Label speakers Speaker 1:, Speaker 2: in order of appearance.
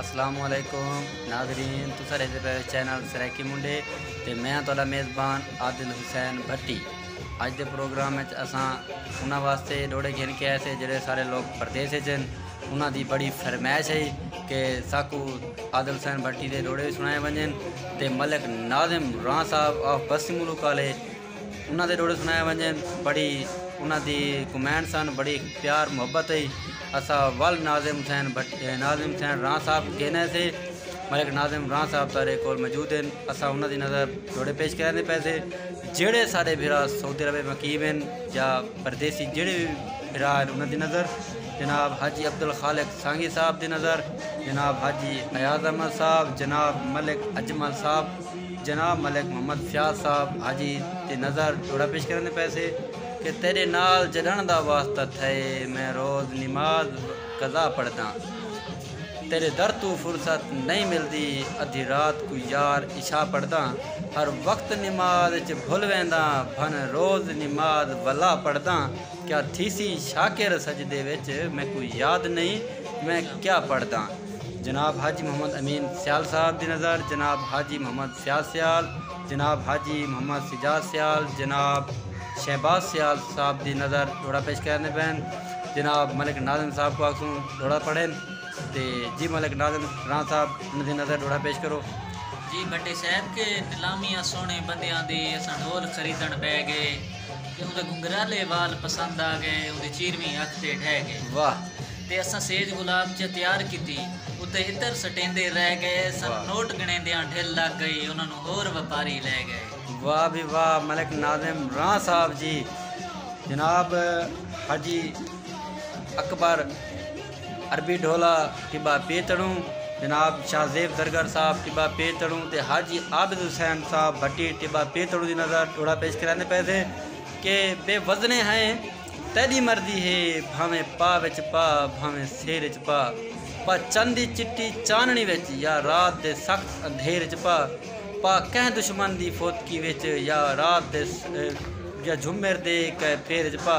Speaker 1: السلام علیکم ناظرین تساں دیکھدے پے چینل سرائیکی منڈے تے میں ہاں تہاڈا میزبان عادل حسین بھٹی اج دے پروگرام وچ اساں انہاں واسطے ڈوڑے گھن کے آئے سے جڑے سارے لوگ پردیس وچ ہن انہاں دی بڑی فرمائش ہے کہ ساکو عادل حسین بھٹی دے ڈوڑے سنائے ونجن تے ملک ناظم راں صاحب آف بستی ملوک والے انہاں دے ڈوہڑے سنائے ونجن بڑی انہاں دی کمین سن بڑی پیار محبت ہی اسا ول ناظم حسین بھٹ ناظم حسین راں صاحب کو کہنے سے ملک ناظم راں صاحب تارے کول موجود ہیں اسا انہاں دی نظر ڈوہڑے پیش کرنے دے پیسے جڑے سارے بھرا سعودی عرب مقیم ہیں یا پردیسی جڑے بھی بھرا ہیں انہاں دی نظر جناب حاجی عبدالخالق سانگی صاحب دی نظر جناب حاجی ایاز احمد صاحب جناب ملک اجمل صاحب جناب ملک محمد فیاض صاحب حاجی تے نظر جوڑا پیش کرن دے پئے سے کہ تیڈے نال جڈن دا واسطہ تھئے میں روز نماز قضا پڑھداں تیڈے در توں فرصت نئیں ملدی ادھی رات کوں یار عشاء پڑھداں ہر وقت نماز اچ بھل وینداں بھن روز نماز ولا پڑھداں کیا تھیسی شاکر سجدے وچ میکوں یاد نئیں میں کیا پڑھداں۔ جناب حاجی محمد امین سیال صاحب دی نظر جناب حاجی محمد سیاض سیال جناب حاجی محمد سجاد سیال جناب شہباز سیال صاحب دی نظر جوڑا پیش کریندے پئن جناب ملک ناظم صاحب کو آکھسوں جوڑا پڑھن تے جی ملک ناظم راں صاحب انہاں دی نظر جوڑا پیش کرو۔ جی بھٹے
Speaker 2: صاحب کے نیلامی آ سوہنے بندیاں دی اساں ڈھول خریدن بہہ گئے۔ تے اوندے گھنگھرالے وال پسند آ گئے اوندی چیرویں اکھ تے ڈھہ گئے واہ تے
Speaker 1: اساں سیج
Speaker 2: گلاب چہ تیار کیتی اتے عطر سٹیندے رہ گئے سانوں نوٹ گنڑیندیاں ڈھل لگ گئی انہاں نوں ہور وپاری لے گئے۔ واہ بھئی واہ
Speaker 1: ملک ناظم راں صاحب جی جناب حاجی اکبر۔ عربی ڈھولا ٹبہ پے تڑوں جناب شاہ زیب زرگر صاحب ٹبہ پے تڑوں تے حاجی عابد حسین صاحب بھٹی ٹبہ پے تڑوں دی نظر ڈھولا پیش کریندے پئے سے کہ بے وزنے ہیں تیڈی مرضی ہے بھانویں پا وچ پا بھانویں سیر وچ پا پا چن دی چٹی چاننڑی وچ یا رات دے سخت اندھیر وچ پا پا کہیں دشمن دی فوتکی وچ یا رات دے یا جھمر دے کئے پھیر وچ پا۔